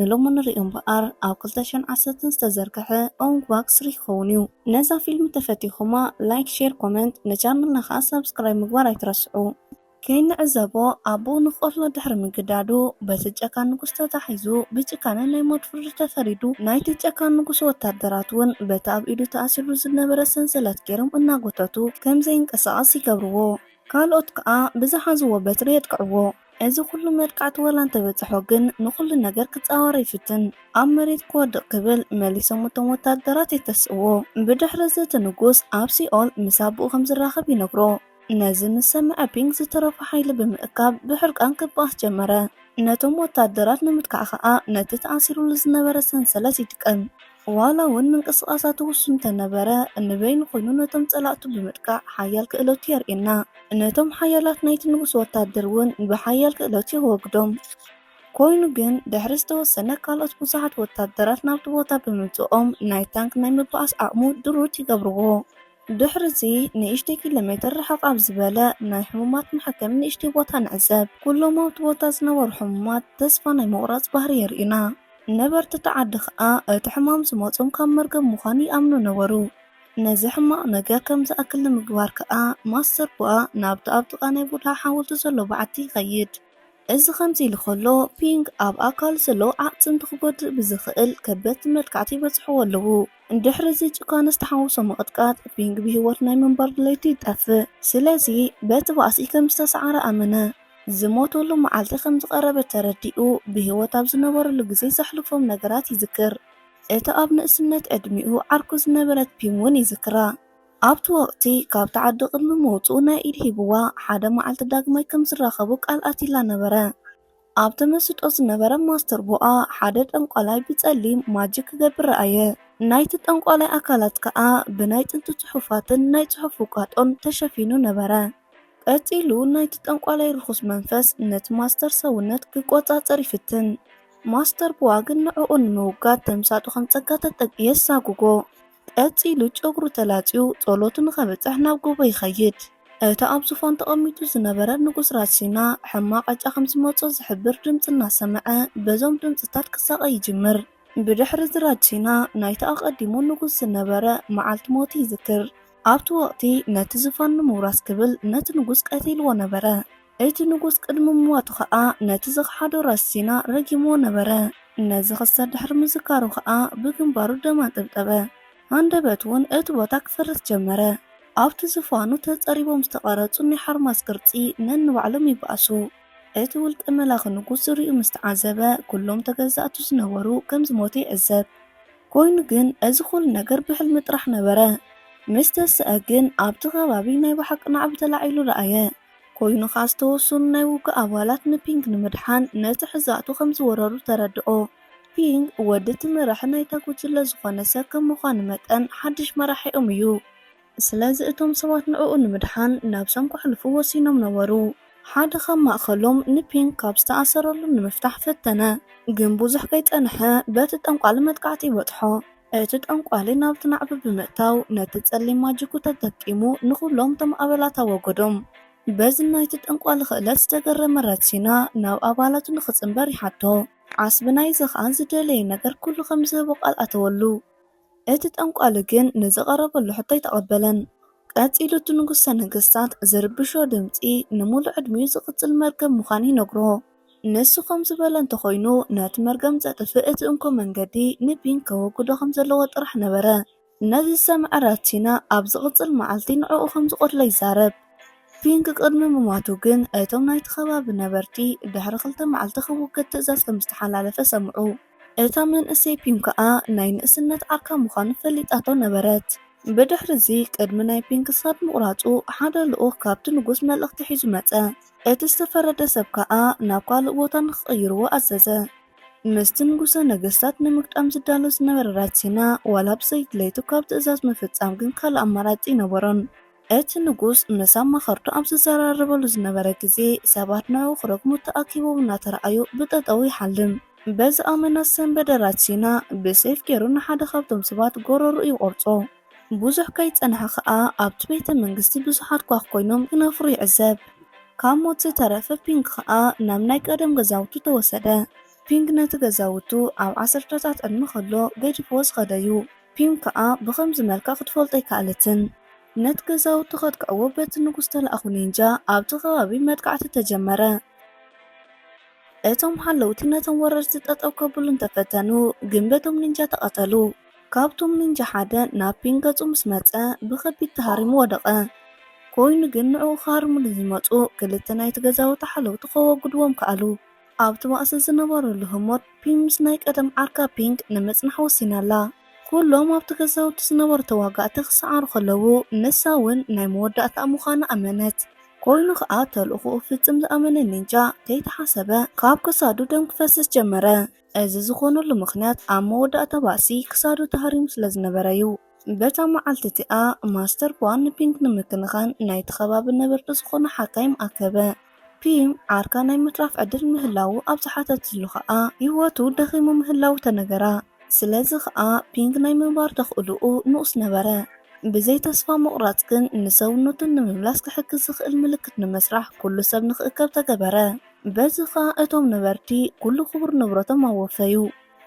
ንሎሚ ንርእዮ እምበኣር ኣብ ክልተ ሽሕን ዓሰርተን ዝተዘርገሐ ኦንግ ባክ ስሪ ክኸውን እዩ። ነዛ ፊልም ተፈቲኹማ ላይክ ሼር ኮመንት ንቻነልና ከኣ ሳብስክራይብ ምግባር ኣይትረስዑ። ከይንዕዘቦ ኣቦኡ ንክቐትሎ ድሕሪ ምግዳዱ በቲ ጨካን ንጉስ ተታሒዙ ብጭካነ ናይ ሞት ፍርዲ ተፈሪዱ። ናይቲ ጨካን ንጉስ ወታደራት እውን በቲ ኣብ ኢዱ ተኣሲርሉ ዝነበረ ሰንሰለት ገይሮም እናጎተቱ ከምዘይንቀሳቐስ ይገብርዎ። ካልኦት ከኣ ብዝሓዝዎ በትሪ የጥቅዕዎ። እዚ ኩሉ መጥቃዕቲ ወላ እንተበጽሖ ግን ንኹሉ ነገር ክጻወሮ ይፍትን። ኣብ መሬት ክወድቕ ክብል መሊሶም እቶም ወታደራት የተስእዎ። ብድሕሪ እዚ እቲ ንጉስ ኣብ ሲኦል ምስ ኣቦኡ ከም ዝራኸብ ይነግሮ። ነዚ ምስ ሰምዐ ፒንግ ዝተረፎ ሓይሊ ብምእካብ ብሕርቃን ክበኣስ ጀመረ። ነቶም ወታደራት ንምትካእ ከኣ ነቲ ተኣሲሩሉ ዝነበረ ሰንሰለት ይጥቀም። ዋላ እውን ምንቅስቓሳቱ ውሱን እንተነበረ፣ ንበይኑ ኮይኑ ነቶም ጸላእቱ ብምጥቃዕ ሓያል ክእለቱ የርእየና። ነቶም ሓያላት ናይቲ ንጉስ ወታደር እውን ብሓያል ክእለቱ የወግዶም። ኮይኑ ግን ድሕሪ ዝተወሰነ ካልኦት ብዙሓት ወታደራት ናብቲ ቦታ ብምምጽኦም ናይ ታንክ ናይ ምብኣስ ዓቕሙ ድሩት ይገብርዎ። ድሕርዚ ንእሽተይ ኪሎሜትር ርሕቕ ኣብ ዝበለ ናይ ሕሙማት መሐከሚ ንእሽተይ ቦታ ንዕዘብ። ኩሎም ኣብቲ ቦታ ዝነበሩ ሕሙማት ተስፋ ናይ ምቑራጽ ባህሪ የርእዩና። ነበርቲ እቲ ዓዲ ከኣ እቲ ሕማም ዝመጾም ካብ መርገም ምዃኑ ይኣምኑ ነበሩ። ነዚ ሕማቕ ነገር ከም ዝኣክል ንምግባር ከኣ ማስተር ቡኣ ናብቲ ኣብ ጥቓ ናይ ቡድሃ ሓወልቲ ዘሎ በዓቲ ይኸይድ። እዚ ከምዚ ኢሉ ከሎ ፒንግ ኣብ ኣካሉ ዘሎ ኣዕጽምቲ ክጎድእ ብዝኽእል ከበድቲ መጥቃዕቲ ይበጽሕዎ ኣለዉ። ድሕሪ እዚ ጭካነ ዝተሓወሶ ምቕጥቃጥ፣ ፒንግ ብህይወት ናይ ምንባር ድሌቱ ይጠፍእ። ስለዚ በቲ ባእሲ ከም ዝተሰዓረ ኣመነ። ዝሞተሉ መዓልቲ ከም ዝቐረበ ተረዲኡ፣ ብህይወት ኣብ ዝነበረሉ ግዜ ዘሕልፎም ነገራት ይዝክር። እታ ኣብ ንእስነት ዕድሚኡ ዓርኩ ዝነበረት ፒም እውን ይዝክራ። ኣብቲ ወቕቲ ካብታ ዓዲ ቅድሚ ምውጽኡ ናይ ኢድ ሂብዋ፣ ሓደ መዓልቲ ዳግማይ ከም ዝራኸቡ ቃል ኣትይላ ነበረ። ኣብ ተመስጦ ዝነበረ ማስተር ቦኣ ሓደ ጠንቋላይ ብጸሊም ማጂክ ክገብር ረኣየ። ናይቲ ጠንቋላይ ኣካላት ከኣ ብናይ ጥንቲ ጽሑፋትን ናይ ጽሑፍ ውቃጦን ተሸፊኑ ነበረ። ቀጺሉ ናይቲ ጠንቋላይ ርኹስ መንፈስ ነቲ ማስተር ሰውነት ክቆጻጸር ይፍትን። ማስተር ቦዋ ግን ንዕኡ ንምውጋድ ተምሳጡ ከም ጸጋ ተጠቅ የሳጉጎ። ቀጺሉ ጨጉሩ ተላጽዩ ጸሎቱ ንኸብጽሕ ናብ ጎቦ ይኸይድ። እቲ ኣብ ዙፋን ተቐሚጡ ዝነበረ ንጉስ ራስ ሲና ሕማቕ ዕጫ ከም ዝመጾ ዝሕብር ድምጺ እናሰምዐ በዞም ድምጽታት ክሳቐ ይጅምር። ብድሕሪ እዚ ራጅ ሲና ናይቲ ኣቐዲሙ ንጉስ ዝነበረ መዓልቲ ሞቱ ይዝክር። ኣብቲ ወቕቲ ነቲ ዙፋን ንምውራስ ክብል ነቲ ንጉስ ቀቲልዎ ነበረ። እቲ ንጉስ ቅድሚ ምሟቱ ኸኣ ነቲ ዝኸሓዶ ራሲና ረጊምዎ ነበረ። ነዚ ኽስተት ድሕሪ ምዝካሩ ኸኣ ብግንባሩ ደም ኣንጠብጠበ፣ ሃንደበትውን እቲ ቦታ ክፈርስ ጀመረ። ኣብቲ ዝፋኑ ተጸሪቦም ዝተቐረጹ ናይ ሓርማዝ ቅርጺ ነንባዕሎም ይበኣሱ። እቲ ውልቀ መላኺ ንጉስ ዝርይኡ ምስ ተዓዘበ ኩሎም ተገዛእቱ ዝነበሩ ከም ዝሞቱ ይዕዘብ። ኮይኑ ግን እዚ ኹሉ ነገር ብሕልሚ ጥራሕ ነበረ። ምስ ተሰኣ ግን ኣብቲ ከባቢ ናይ ብሓቂ ናዕቢ ተላዒሉ ረኣየ። ኮይኑ ኸኣ ዝተወሰኑ ናይ ውግእ ኣባላት ንፒንግ ንምድሓን ነቲ ሕዛእቱ ከም ዝወረሩ ተረድኦ። ፒንግ ወዲ እቲ መራሒ ናይታ ጉጅለ ዝኾነ ሰብ ከም ምዃኑ መጠን ሓድሽ መራሒኦም እዩ። ስለዚ እቶም ሰባት ንዕኡ ንምድሓን ነብሶም ከሕልፉ ወሲኖም ነበሩ። ሓደ ካብ ማእከሎም ንፒንግ ካብ ዝተኣሰረሉ ንምፍታሕ ፈተነ፣ ግን ብዙሕ ከይጸንሐ በቲ ጠንቋሊ መጥቃዕቲ በጽሖ። እቲ ጠንቋሊ ናብቲ ናዕቢ ብምእታው ነቲ ጸሊም ማጂኩ ተጠቂሙ ንኹሎም እቶም ኣባላት ኣወገዶም። በዚ ናይቲ ጠንቋሊ ክእለት ዝተገረመ ረትሲና ናብ ኣባላቱ ንኽጽንበር ይሓቶ። ዓስቢ ናይዚ ኸኣ ዝደለዮ ነገር ኩሉ ከም ዝህቦ ቃል ኣተወሉ። እቲ ጠንቋሊ ግን ንዝቐረበሉ ሕቶ ኣይተቐበለን። ቀጺሉ እቲ ንጉሰ ነገስታት ዝርብሾ ድምጺ ንምሉእ ዕድሚኡ ዝቕጽል መርገም ምዃኑ ይነግሮ። ንሱ ከም ዝበሎ እንተኾይኑ፣ ነቲ መርገም ዘጥፍእ እቲ እንኮ መንገዲ፣ ንቢን ከወግዶ ከም ዘለዎ ጥራሕ ነበረ። ነዚ ዝሰምዐ ራትሲና ኣብ ዝቕጽል መዓልቲ ንዕኡ ከም ዝቐትሎ ይዛረብ። ፒንግ ቅድሚ ምሟቱ ግን፣ እቶም ናይቲ ከባቢ ነበርቲ ድሕሪ ክልተ መዓልቲ ክውገድ ትእዛዝ ከም ዝተሓላለፈ ሰምዑ። እታ መንእሰይ ፒንግ ከኣ ናይ ንእስነት ዓርካ ምዃኑ ፈሊጣቶ ነበረት። ብድሕርዚ፣ ቅድሚ ናይ ፒንግ ክሳድ ምቝራጹ፣ ሓደ ልኡኽ ካብቲ ንጉስ መልእኽቲ ሒዙ መጸ። እቲ ዝተፈረደ ሰብ ከኣ ናብ ካልእ ቦታ ንኽቕይርዎ ኣዘዘ። ምስቲ ንጉሰ ነገስታት ንምግጣም ዝዳሎ ዝነበረ ራትሲና ዋላ ብዘይቲ ለይቱ ካብ ትእዛዝ ምፍጻም ግን ካልእ ኣማራጺ ኣይነበሮን። እቲ ንጉስ ምስ ኣማኸርቱ ኣብ ዝዘራረበሉ ዝነበረ ግዜ ሰባት ንዕኡ ክረግሙ ተኣኪቦም እናተራኣዩ ብጠጠዉ ይሓልም። በዚ ኣመና ዝሰንበደ ራትሲና ብሴፍ ጌሩ ንሓደ ካብቶም ሰባት ጎረርኡ ይቖርጾ። ብዙሕ ከይጸንሐ ከኣ ኣብቲ ቤተ መንግስቲ ብዙሓት ኳኽ ኮይኖም ክነፍሩ ይዕዘብ። ካብ ሞት ዝተረፈ ፒንግ ከኣ ናብ ናይ ቀደም ገዛውቱ ተወሰደ። ፒንግ ነቲ ገዛውቱ ኣብ ዓሰርተታት ዕድመ ከሎ ገዲፍዎ ዝኸደ'ዩ። ፒንግ ከኣ ብኸምዚ መልክዕ ክትፈልጦ ኣይከኣለትን። ነቲ ገዛውቱ ከጥቅዕዎ በቲ ንጉስ ዝተላእኩ ኒንጃ ኣብቲ ከባቢ መጥቃዕቲ ተጀመረ። እቶም ሓለውቲ ነቶም ወረርቲ ጠጠው ከብሉ እንተፈተኑ ግን በቶም ኒንጃ ተቐተሉ። ካብቶም ኒንጃ ሓደ ናብ ፒንግ ገጹ ምስ መጸ ብኸቢድ ተሃሪሙ ወደቐ። ኮይኑ ግን ንዕኡ ክሃርምሉ ዝመጹ ክልተ ናይቲ ገዛውቲ ሓለውቲ ከወግድዎም ከኣሉ። ኣብቲ ባእሲ ዝነበረሉ ህሞት ፒንግ ምስ ናይ ቀደም ዓርካ ፒንግ ንምጽናሕ ወሲና'ላ። ኩሎም ኣብቲ ገዛውቲ ዝነበሩ ተዋጋእቲ ክሰዓሩ ከለዉ ንሳ እውን ናይ መወዳእታኣ ምዃና ኣመነት። ኮይኑ ከኣ ተልእኾኡ ፍጽም ዝኣመነ ኒንጃ ከይተሓሰበ ካብ ክሳዱ ደም ክፈስስ ጀመረ። እዚ ዝኾነሉ ምኽንያት ኣብ መወዳእታ ባእሲ ክሳዱ ተሃሪሙ ስለ ዝነበረ'ዩ። በታ መዓልቲ እቲኣ ማስተር ፖኣ ንፒንግ ንምክንኻን ናይቲ ከባቢ ነበርቲ ዝኾኑ ሓካይም ኣከበ። ፒም ዓርካ ናይ ምትራፍ ዕድል ምህላዉ ኣብ ዝሓተትሉ ከኣ ህይወቱ ደኺሙ ምህላዉ ተነገራ። ስለዚ ኸኣ ፒንግ ናይ ምንባር ተኽእሎኡ ንኡስ ነበረ። ብዘይ ተስፋ ምቑራጽ ግን ንሰውነቱ ንምምላስ ክሕግዝ ዝኽእል ምልክት ንምስራሕ ኩሉ ሰብ ንኽእከብ ተገበረ። በዚ ኸኣ እቶም ነበርቲ ኩሉ ክቡር ንብረቶም ኣወፈዩ።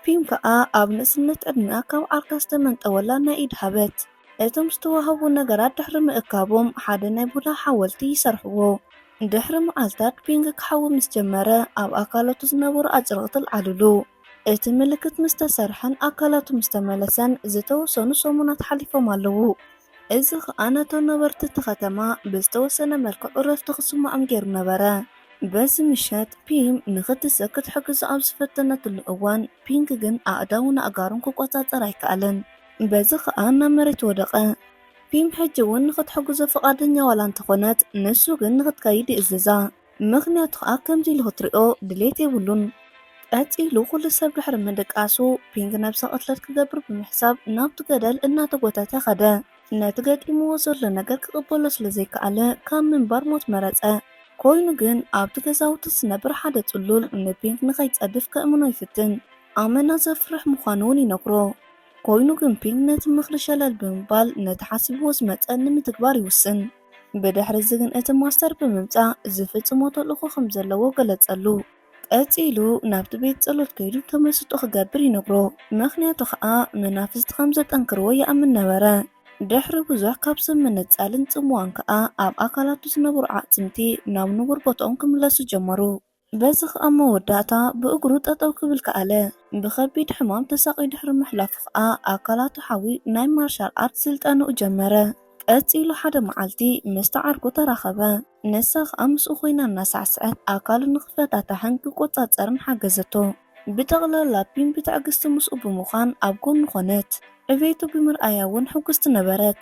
ፒንግ ከኣ ኣብ ንእስነት ዕድሚኣ ካብ ዓርካ ዝተመንጠወላ ናይ ኢድ ሃበት እቶም ዝተዋህቡ ነገራት ድሕሪ ምእካቦም ሓደ ናይ ቡድሃ ሓወልቲ ይሰርሕዎ። ድሕሪ መዓልታት ፒንግ ክሓዊ ምስ ጀመረ ኣብ ኣካላቱ ዝነበሩ ኣጭርቕቲ ኣልዓልሉ። እቲ ምልክት ምስ ተሰርሐን ኣካላቱ ምስ ተመለሰን ዝተወሰኑ ሰሙናት ሓሊፎም ኣለዉ። እዚ ኸኣ ነቶም ነበርቲ እቲ ኸተማ ብዝተወሰነ መልክዕ ዕረፍቲ ኽስምዖም ገይሩ ነበረ። በዚ ምሸት፣ ፒም ንኽትስእ ክትሕግዞ ኣብ ዝፈተነትሉ እዋን፣ ፒንክ ግን ኣእዳዉን ኣእጋሩን ክቈጻጸር ኣይከኣለን። በዚ ኸኣ ናብ መሬት ወደቐ። ፒም ሕጂ እውን ንኽትሕግዞ ፍቓደኛ ዋላ እንተ ዀነት፣ ንሱ ግን ንኽትከይድ ይእዝዛ። ምኽንያቱ ከኣ ከምዚ ኢሉ ክትሪኦ ድሌት የብሉን። ቀጺሉ ኩሉ ሰብ ድሕሪ ምድቃሱ ፒንግ ነብሰ ቅትለት ክገብር ብምሕሳብ ናብቲ ገደል እናተጎተተ ከደ። ነቲ ገጢምዎ ዘሎ ነገር ክቕበሎ ስለ ዘይከኣለ ካብ ምንባር ሞት መረጸ። ኮይኑ ግን ኣብቲ ገዛውቲ ዝነብር ሓደ ጽሉል ንፒንግ ንኸይጸድፍ ከእምኖ ይፍትን። ኣመና ዘፍርሕ ምዃኑ ውን ይነግሮ። ኮይኑ ግን ፒንግ ነቲ ምኽሪ ሸለል ብምባል ነቲ ሓሲብዎ ዝመጸ ንምትግባር ይውስን። ብድሕርዚ ግን እቲ ማስተር ብምምጻእ ዝፍጽሞ ተልእኾ ከም ዘለዎ ገለጸሉ። ቀጺሉ ናብቲ ቤት ጸሎት ከይዱ ተመስጦ ክገብር ይነግሮ፣ ምኽንያቱ ኸኣ መናፍስቲ ከም ዘጠንክርዎ ይኣምን ነበረ። ድሕሪ ብዙሕ ካብ ሰብ ምንጻልን ጽምዋን ከኣ ኣብ ኣካላቱ ዝነበሩ ኣዕጽምቲ ናብ ንቡር ቦታኦም ክምለሱ ጀመሩ። በዚ ኸኣ መወዳእታ ብእግሩ ጠጠው ክብል ከኣለ። ብኸቢድ ሕማም ተሳቕዩ ድሕሪ ምሕላፉ ኸኣ ኣካላቱ ሓውዩ ናይ ማርሻል ኣርት ስልጠንኡ ጀመረ። ቀጺሉ ሓደ መዓልቲ ምስታ ዓርኩ ተራኸበ። ንሳ ኸኣ ምስኡ ኮይና እናሳዕሰዐት ኣካሉ ንኽፈታታሕን ክቆጻጸርን ሓገዘቶ። ብጠቕላላ ፒም ብትዕግስቲ ምስኡ ብምዃን ኣብ ጎኑ ኮነት። ዕቤቱ ብምርኣያ እውን ሕጉስቲ ነበረት።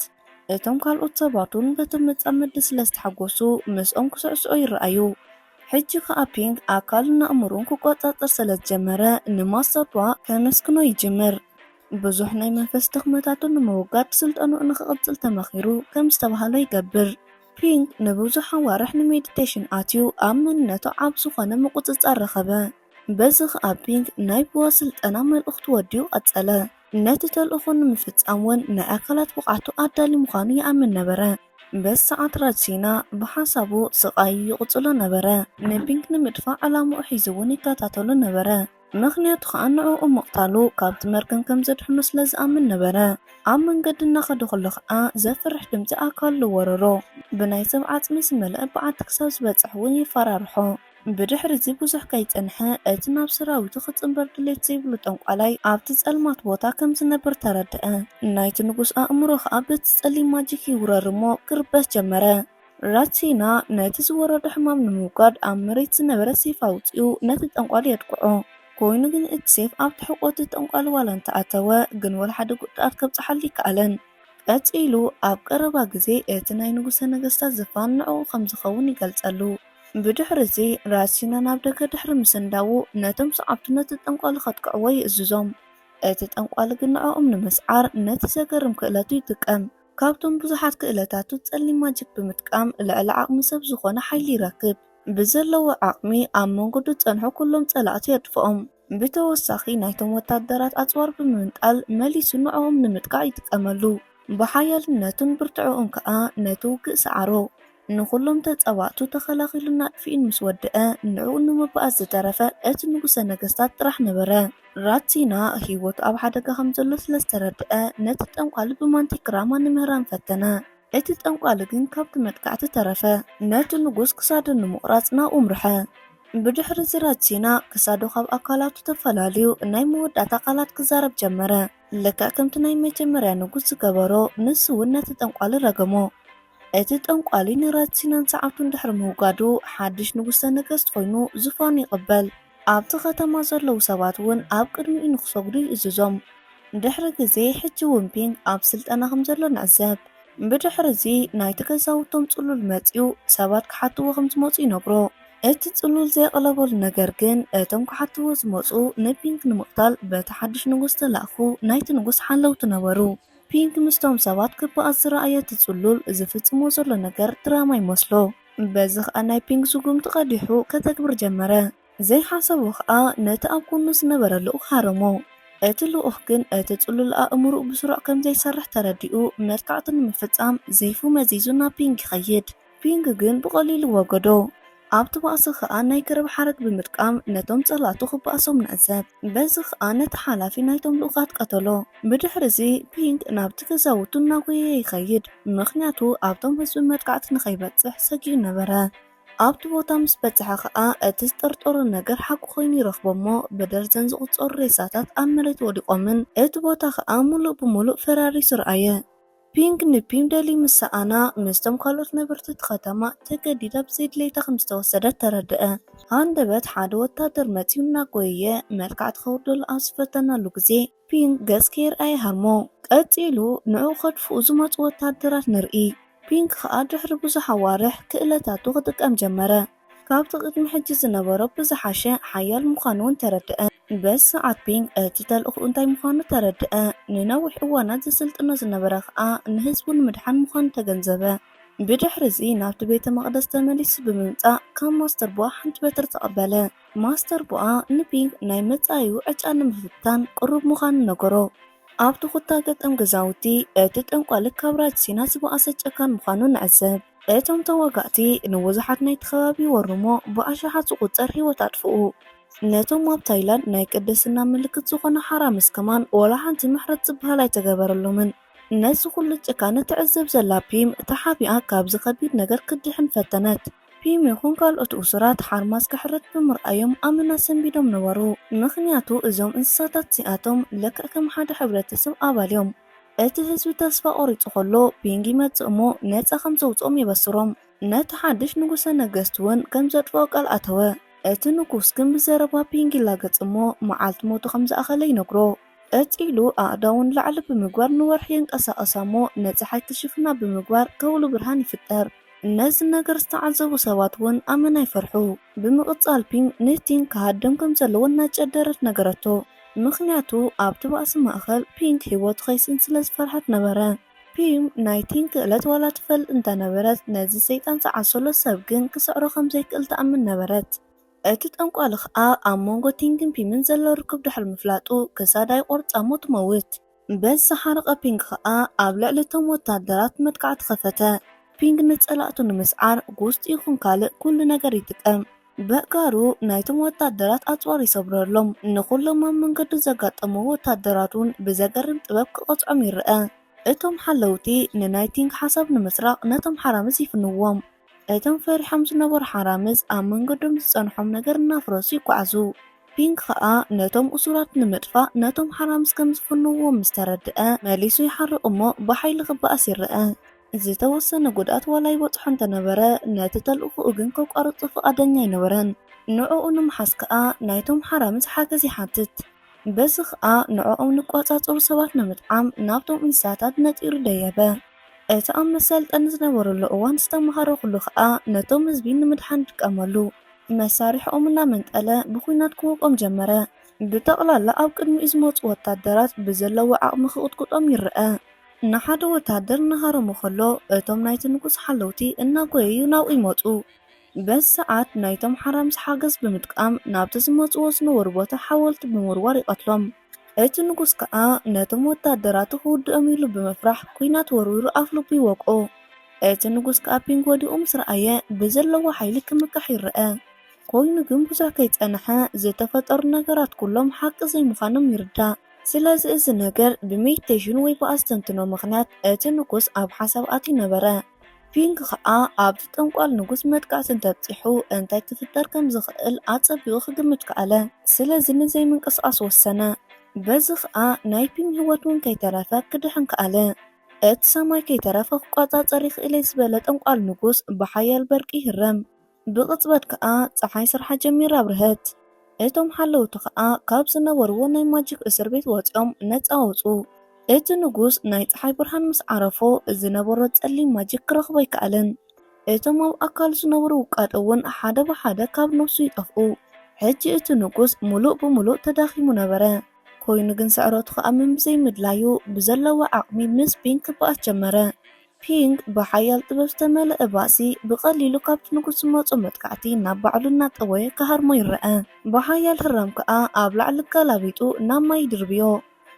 እቶም ካልኦት ሰባት እውን በቲ መጻምዲ ስለ ዝተሓጎሱ ምስኦም ክስዕስዑ ይረኣዩ። ሕጂ ከኣ ፒንግ ኣካሉን ኣእምሮኡን ክቆጻጸር ስለ ዝጀመረ፣ ንማሳፓ ከመስግኖ ይጅምር። ብዙሕ ናይ መንፈስ ድኽመታቱ ንምውጋድ ስልጠናኡ ንኽቕጽል ተመኺሩ ከም ዝተባህሎ ይገብር። ፒንግ ንብዙሕ ኣዋርሕ ንሜዲቴሽን ኣትዩ ኣብ መንነቱ ዓቢ ዝኾነ ምቁጽጻር ረኸበ። በዚ ከኣ ፒንግ ናይ ቡዋ ስልጠና መልእኽቱ ወዲኡ ቀጸለ። ነቲ ተልእኾ ንምፍጻም እውን ናይ ኣካላት ብቕዓቱ ኣዳልዩ ምዃኑ ይኣምን ነበረ። በዚ ሰዓት ራጅሲና ብሓሳቡ ስቓዩ ይቕጽሎ ነበረ። ንፒንክ ንምድፋእ ዕላምኡ ሒዙ እውን ይከታተሎ ነበረ፣ ምኽንያቱ ኸኣ ንዕኡ ምቕታሉ ካብቲ መርገም ከም ዘድሕኖ ስለ ዝኣምን ነበረ። ኣብ መንገዲ እናኸደ ኸሎ ኸኣ ዘፍርሕ ድምጺ ኣካሉ ወረሮ። ብናይ ሰብ ዓጽሚ ዝመልአ በዓቲ ክሳብ ዝበጽሕ እውን የፈራርሖ። ብድሕሪ'ዚ ብዙሕ ከይጸንሐ፣ እቲ ናብ ሰራዊቱ ክጽንበር ድሌት ዘይብሉ ጠንቋላይ፣ ኣብቲ ጸልማት ቦታ ከም ዝነብር ተረድኣ። ናይቲ ንጉስ ኣእምሮ ኸኣ በቲ ጸሊም ማጂክ ይውረር እሞ ክርበሽ ጀመረ። ራትሲና ነቲ ዝወረዶ ሕማም ንምውጋድ ኣብ መሬት ዝነበረ ሴፍ ኣውጺኡ ነቲ ጠንቋሊ የድቅዖ። ኮይኑ ግን እቲ ሴፍ ኣብቲ ሕቖ እቲ ጠንቋሊ ዋላ እንተ ኣተወ ግን ወላ ሓደ ጉድኣት ከብጽሓሉ ኣይከኣለን። ቀጺሉ ኣብ ቀረባ ግዜ እቲ ናይ ንጉሰ ነገስታት ዝፋን ንዕኡ ከም ዝኸውን ይገልጸሉ። ብድሕርዚ፣ ራሲኖ ናብ ደገ ድሕሪ ምስንዳዉ፣ ነቶም ሰዓብቱ ነቲ ጠንቋሊ ከጥቅዕዎ ይእዝዞም። እቲ ጠንቋሊ ግን ንዕኦም ንምስዓር ነቲ ዘገርም ክእለቱ ይጥቀም። ካብቶም ብዙሓት ክእለታቱ፣ ጸሊም ማጂክ ብምጥቃም ልዕሊ ዓቕሚ ሰብ ዝኾነ ሓይሊ ይረክብ። ብዘለዎ ዓቕሚ ኣብ መንገዱ ዝጸንሑ ኩሎም ጸላእቱ የጥፍኦም። ብተወሳኺ ናይቶም ወታደራት ኣጽዋር ብምንጣል መሊሱ ንዕኦም ንምጥቃዕ ይጥቀመሉ። ብሓያልነቱን ብርትዕኡን ከኣ ነቲ ውግእ ሰዓሮ። ንኹሎም ተጻባእቱ ተኸላኺሉን ኣጥፊኡን ምስ ወደኣ፣ ንዕኡ ንምባኣስ ዝተረፈ እቲ ንጉሰ ነገስታት ጥራሕ ነበረ። ራትሲና ህይወቱ ኣብ ሓደጋ ከም ዘሎ ስለ ዝተረድኣ፣ ነቲ ጠንቋሊ ብማንቲክራማ ንምህራም ፈተነ። እቲ ጠንቋሊ ግን ካብቲ መጥቃዕቲ ተረፈ። ነቲ ንጉስ ክሳዱ ንምቑራጽ ናብኡ ኣምርሐ። ብድሕሪ እዚ ረቲና ክሳዱ ካብ ኣካላቱ ተፈላልዩ ናይ መወዳእታ ቃላት ክዛረብ ጀመረ። ልክዕ ከምቲ ናይ መጀመርያ ንጉስ ዝገበሮ ንሱ እውን ነቲ ጠንቋሊ ረገሞ። እቲ ጠንቋሊ ንረቲናን ሰዓብቱን ድሕሪ ምውጋዱ ሓድሽ ንጉሰ ነገስት ኮይኑ ዙፋኑ ይቕበል። ኣብቲ ከተማ ዘለዉ ሰባት እውን ኣብ ቅድሚኡ ንክሰግዱ ይእዝዞም። ድሕሪ ግዜ ሕጂ እውን ፒንግ ኣብ ስልጠና ከም ዘሎ ንዕዘብ። ብድሕሪ እዚ ናይቲ ገዛውቶም ጽሉል መጺኡ ሰባት ክሓትዎ ከም ዝመጹ ይነግሮ። እቲ ጽሉል ዘየቕለበሉ ነገር ግን፣ እቶም ክሓትዎ ዝመጹ ንፒንክ ንምቕታል በቲ ሓድሽ ንጉስ ዝተላእኩ ናይቲ ንጉስ ሓለውቲ ነበሩ። ፒንክ ምስቶም ሰባት ክበኣስ ዝረኣዮ እቲ ጽሉል፣ ዝፍጽሞ ዘሎ ነገር ድራማ ይመስሎ። በዚ ኸኣ ናይ ፒንክ ስጉምቲ ቀዲሑ ከተግብር ጀመረ። ዘይሓሰቦ ኸኣ ነቲ ኣብ ጎኑ ዝነበረ ልኡኽ ሃረሞ። እቲ ልኡኽ ግን እቲ ጽሉል ኣእምሩኡ ብስሩዕ ከም ዘይሰርሕ ተረዲኡ መጥቃዕቲ ንምፍጻም ዜይፉ መዚዙ ናብ ፒንክ ይኸይድ። ፒንግ ግን ብቐሊሉ ወገዶ። ኣብቲ ባእሲ ኸኣ ናይ ገረብ ሓረግ ብምጥቃም ነቶም ጸላእቱ ክባእሶም ንዕዘብ። በዚ ኸኣ ነቲ ሓላፊ ናይቶም ልኡኻት ቀተሎ። ብድሕርዚ ፒንግ ናብቲ ገዛውቱ እናጎየየ ይኸይድ፣ ምኽንያቱ ኣብቶም ህዝቢ መጥቃዕቲ ንኸይበጽሕ ሰጊኡ ነበረ። ኣብቲ ቦታ ምስ በጽሐ ኸኣ እቲ ዝጠርጠሮ ነገር ሓቂ ኮይኑ ይረኽቦ'ሞ ብደርዘን ዝቑጸሩ ሬሳታት ኣብ መሬት ወዲቖምን እቲ ቦታ ኸኣ ምሉእ ብምሉእ ፈራሪሱ ረኣየ። ፒንግ ንፒም ደሊ ምስ ሰኣና፣ ምስቶም ካልኦት ነበርቲ እቲ ከተማ ተገዲዳ ብዘይ ድሌታ ከም ዝተወሰደት ተረድኣ። ሃንደበት ሓደ ወተሃደር መጺኡ እናጎየየ መልክዓ ክተውርደሉ ኣብ ዝፈተናሉ ግዜ፣ ፒንግ ገጽ ከይርኣየ ሃርሞ። ቀጺሉ ንዕኡ ከድፍኡ ዝመጹ ወተሃደራት ንርኢ፣ ፒንግ ከኣ ድሕሪ ብዙሕ ኣዋርሕ ክእለታቱ ክጥቀም ጀመረ። ካብቲ ቅድሚ ሕጂ ዝነበሮ ብዝሓሸ ሓያል ምዃኑ እውን ተረድኣ። በዚ ሰዓት ፒንግ እቲ ተልእኾኡ እንታይ ምዃኑ ተረድኣ። ንነዊሕ እዋናት ዘሰልጥኖ ዝነበረ ኸኣ ንህዝቡ ንምድሓን ምዃኑ ተገንዘበ። ብድሕሪ እዚ ናብቲ ቤተ መቕደስ ተመሊሱ ብምምጻእ ካብ ማስተር ቦኣ ሓንቲ በትሪ ተቐበለ። ማስተር ቦኣ ንፒንግ ናይ መጻኢኡ ዕጫ ንምፍታን ቅሩብ ምዃኑ ነገሮ። ኣብቲ ኩታ ገጠም ገዛውቲ እቲ ጠንቋሊ ካብ ራጅ ሲና ዝበኣሰ ጨካን ምዃኑ ንዕዘብ። እቶም ተዋጋእቲ ንብዙሓት ናይቲ ከባቢ ወሩ'ሞ ብኣሽሓት ዝቑጸር ህይወት ኣጥፍኡ። ነቶም ኣብ ታይላንድ ናይ ቅድስና ምልክት ዝዀኑ ሓራምዝ ከማን ዋላ ሓንቲ ምሕረት ዝብሃል ኣይተገበረሎምን። ነዚ ዅሉ ጭካነ ትዕዘብ ዘላ ፒም ተሓቢኣ ካብዚ ከቢድ ነገር ክትድሕን ፈተነት። ፒም ይዅን ካልኦት እሱራት ሓርማዝ ክሕረድ ብምርኣዮም ኣመና ሰንቢዶም ነበሩ፣ ምኽንያቱ እዞም እንስሳታት እዚኣቶም ልክዕ ከም ሓደ ሕብረተሰብ ኣባል'ዮም። እቲ ህዝቢ ተስፋ ቆሪጹ ከሎ ፒንግ ይመጽእ እሞ ነጻ ከም ዘውጽኦም የበስሮም። ነቲ ሓድሽ ንጉሰ ነገስት ውን ከም ዘጥፍኦ ቃል ኣተወ። እቲ ንጉስ ግን ብዘረባ ፒንግ ይላገጽ እሞ መዓልቲ ሞቱ ከም ዝኣኸለ ይነግሮ። ቀጺ ኢሉ ኣእዳዉ ንላዕሊ ብምግባር ንወርሒ የንቀሳቕሳ እሞ ነቲ ሓቂ ሽፍና ብምግባር ከውሊ ብርሃን ይፍጠር። ነዚ ነገር ዝተዓዘቡ ሰባት እውን ኣመና ይፈርሑ። ብምቕጻል ፒንግ ንቲንግ ክሃድም ከም ዘለዎ እናጨደረት ነገረቶ፣ ምኽንያቱ ኣብቲ ባእሲ ማእከል ፒንግ ህይወቱ ከይስእን ስለ ዝፈርሐት ነበረ። ፒም ናይ ቲንግ ክእለት ዋላ ትፈልጥ እንተ ነበረት፣ ነዚ ሰይጣን ዝዓሰሎ ሰብ ግን ክስዕሮ ከም ዘይክእል ትኣምን ነበረት። እቲ ጠንቋሊ ኸኣ ኣብ መንጎ ቲንግን ፒምን ዘሎ ርክብ ድሕሪ ምፍላጡ፣ ክሳዳ ይቖርጻ እሞ ትመውት። በዚ ዝሓረቐ ፒንግ ኸኣ ኣብ ልዕሊ እቶም ወተሃደራት መጥቃዕቲ ኸፈተ። ፒንግ ንጸላእቱ ንምስዓር ጉስጢ ይኹን ካልእ ኩሉ ነገር ይጥቀም። በእጋሩ ናይቶም ወተሃደራት ኣጽዋር ይሰብረሎም። ንኹሎም ኣብ መንገዱ ዘጋጠምዎ ወተሃደራት እውን ብዘገርም ጥበብ ክቐጽዖም ይረኣ። እቶም ሓለውቲ ንናይ ቲንግ ሓሳብ ንምስራቕ ነቶም ሓራምዝ ይፍንዎም። እቶም ፈሪሖም ዝነበሩ ሓራምዝ ኣብ መንገዶም ዝጸንሖም ነገር እናፍረሱ ይጓዓዙ። ፒንክ ኸኣ ነቶም እሱራት ንምጥፋእ ነቶም ሓራምዝ ከም ዝፍንውዎም ምስ ተረድኣ መሊሱ ይሓርቕ እሞ ብሓይሊ ክበኣስ ይረኣ። ዝተወሰነ ጉድኣት ዋላ ይበጽሖ እንተ ነበረ ነቲ ተልእኾኡ ግን ከቋርጾ ፍቓደኛ ኣይነበረን። ንዕኡ ንምሓዝ ከኣ ናይቶም ሓራምዝ ሓገዝ ይሓትት። በዚ ኸኣ ንዕኦም ንቋጻጸሩ ሰባት ንምጥዓም ናብቶም እንስሳታት ነጢሩ ደየበ። እቲ ኣብ መሰልጠኒ ዝነበረሉ እዋን ዝተመሃረኹሉ ኸኣ ነቶም ህዝቢ ንምድሓን ዝጥቀመሉ መሳርሒኦም እናመንጠለ ብኹናት ክወቕኦም ጀመረ። ብጠቕላላ ኣብ ቅድሚኡ ዝመጹ ወታደራት ብዘለዎ ዓቕሚ ክቕጥቁጦም ይረኣ። ንሓደ ወታደር እናሃረሞ ከሎ እቶም ናይቲ ንጉስ ሓለውቲ እናጎየዩ ናብኡ ይመጹ። በዚ ሰዓት ናይቶም ሓራምዝ ሓገዝ ብምጥቃም ናብቲ ዝመጹዎ ዝነበሩ ቦታ ሓወልቲ ብምውርዋር ይቐትሎም። እቲ ንጉስ ከኣ ነቶም ወተሃደራቱ ክውድኦም ኢሉ ብምፍራሕ ኩናት ወርዊሩ ኣፍልቡ ይወቅኦ። እቲ ንጉስ ከኣ ፒንግ ወዲቑ ምስ ረኣየ ብዘለዎ ሓይሊ ክምክሕ ይረኣ። ኮይኑ ግን ብዙሕ ከይጸነሐ ዝተፈጠሩ ነገራት ኩሎም ሓቂ ዘይምዃኖም ይርዳእ። ስለዚ እዚ ነገር ብሜዲቴሽን ወይ ብኣስተንትኖ ምኽንያት እቲ ንጉስ ኣብ ሓሳብ ኣትዩ ነበረ። ፒንግ ከኣ ኣብቲ ጠንቋል ንጉስ መጥቃዕቲ እንተብጺሑ እንታይ ክፍጠር ከም ዝኽእል ኣጸቢቑ ክግምት ከኣለ። ስለዚ ንዘይምንቅስቓስ ወሰነ። በዚ ኸኣ ናይ ፒንግ ህይወት እውን ከይተረፈ ክድሕን ከኣለ። እቲ ሰማይ ከይተረፈ ክቆጻጸር ይኽእል'የ ዝበለ ጠንቋል ንጉስ ብሓያል በርቂ ይህረም። ብቕጽበት ከኣ ጸሓይ ስርሓ ጀሚራ ኣብርሀት። እቶም ሓለውቲ ከኣ ካብ ዝነበርዎ ናይ ማጂክ እስር ቤት ወጺኦም ነጻ ወጹ። እቲ ንጉስ ናይ ጸሓይ ብርሃን ምስ ዓረፎ ዝነበሮ ጸሊም ማጂክ ክረኽቦ ኣይከኣለን። እቶም ኣብ ኣካሉ ዝነበሩ ውቃጦ እውን ሓደ ብሓደ ካብ ነብሱ ይጠፍኡ። ሕጂ እቲ ንጉስ ምሉእ ብምሉእ ተዳኺሙ ነበረ። ኮይኑ ግን ስዕረቱ ክኣምን ብዘይምድላዩ ብዘለዎ ዓቕሚ ምስ ቢን ክበኣስ ጀመረ። ፒንግ ብሓያል ጥበብ ዝተመልአ ባእሲ፣ ብቐሊሉ ካብቲ ንጉስ ዝመጾ መጥቃዕቲ ናብ ባዕሉ እናጠወየ ክሃርሞ ይረኣ። ብሓያል ህራም ከኣ ኣብ ላዕሊ ኣገላቢጡ ናብ ማይ ይድርብዮ።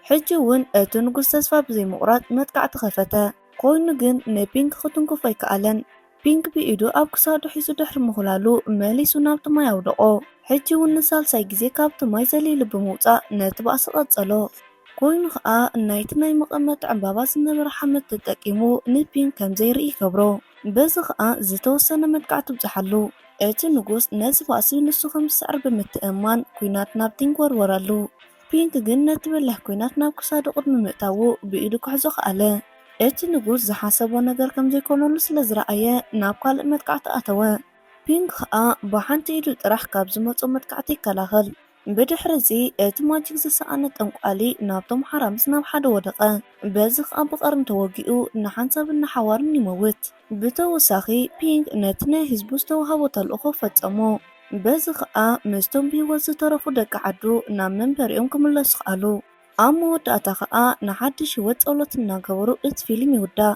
ሕጂ እውን እቲ ንጉስ ተስፋ ብዘይምቑራጽ መጥቃዕቲ ከፈተ። ኰይኑ ግን ንፒንግ ክትንክፎ ኣይከኣለን። ፒንግ ብኢዱ ኣብ ክሳዱ ሒዙ ድሕሪ ምዅላሉ መሊሱ ናብቲ ማይ ኣውደቖ። ሕጂ እውን ንሳልሳይ ግዜ ካብቲ ማይ ዘሊሉ ብምውጻእ ነቲ ባእሲ ቀጸሎ። ኮይኑ ከኣ ናይቲ ናይ መቐመጢ ዕምባባ ዝነበረ ሓመድ ተጠቂሙ ንፒንክ ከም ዘይርኢ ይገብሮ። በዚ ከኣ ዝተወሰነ መጥቃዕቲ ኣብጽሓሉ። እቲ ንጉስ ነዚ ባእሲ ንሱ ከም ዝስዕር ብምትእምማን ኲናት ናብ ቲንክ ወርወረሉ። ፒንክ ግን ነቲ በላሕ ኲናት ናብ ክሳዱ ቅድሚ ምእታዉ ብኢዱ ክሕዞ ከኣለ። እቲ ንጉስ ዝሓሰቦ ነገር ከም ዘይኮነሉ ስለ ዝረኣየ ናብ ካልእ መጥቃዕቲ ኣተወ። ፒንክ ከኣ ብሓንቲ ኢዱ ጥራሕ ካብ ዝመጾ መጥቃዕቲ ይከላኸል። ብድሕርዚ እቲ ማጂክ ዝሰኣነ ጠንቋሊ ናብቶም ሓራምዝ ናብ ሓደ ወደቐ። በዚ ከኣ ብቐርኒ ተወጊኡ ንሓንሳብን ንሓዋሩን ይመውት። ብተወሳኺ ፒንግ ነቲ ናይ ህዝቡ ዝተዋህቦ ተልእኾ ፈጸሞ። በዚ ከኣ ምስቶም ብህይወት ዝተረፉ ደቂ ዓዱ ናብ መንበሪኦም ክምለሱ ከኣሉ። ኣብ መወዳእታ ከኣ ንሓድሽ ህይወት ጸሎት እናገበሩ እቲ ፊልም ይውዳእ።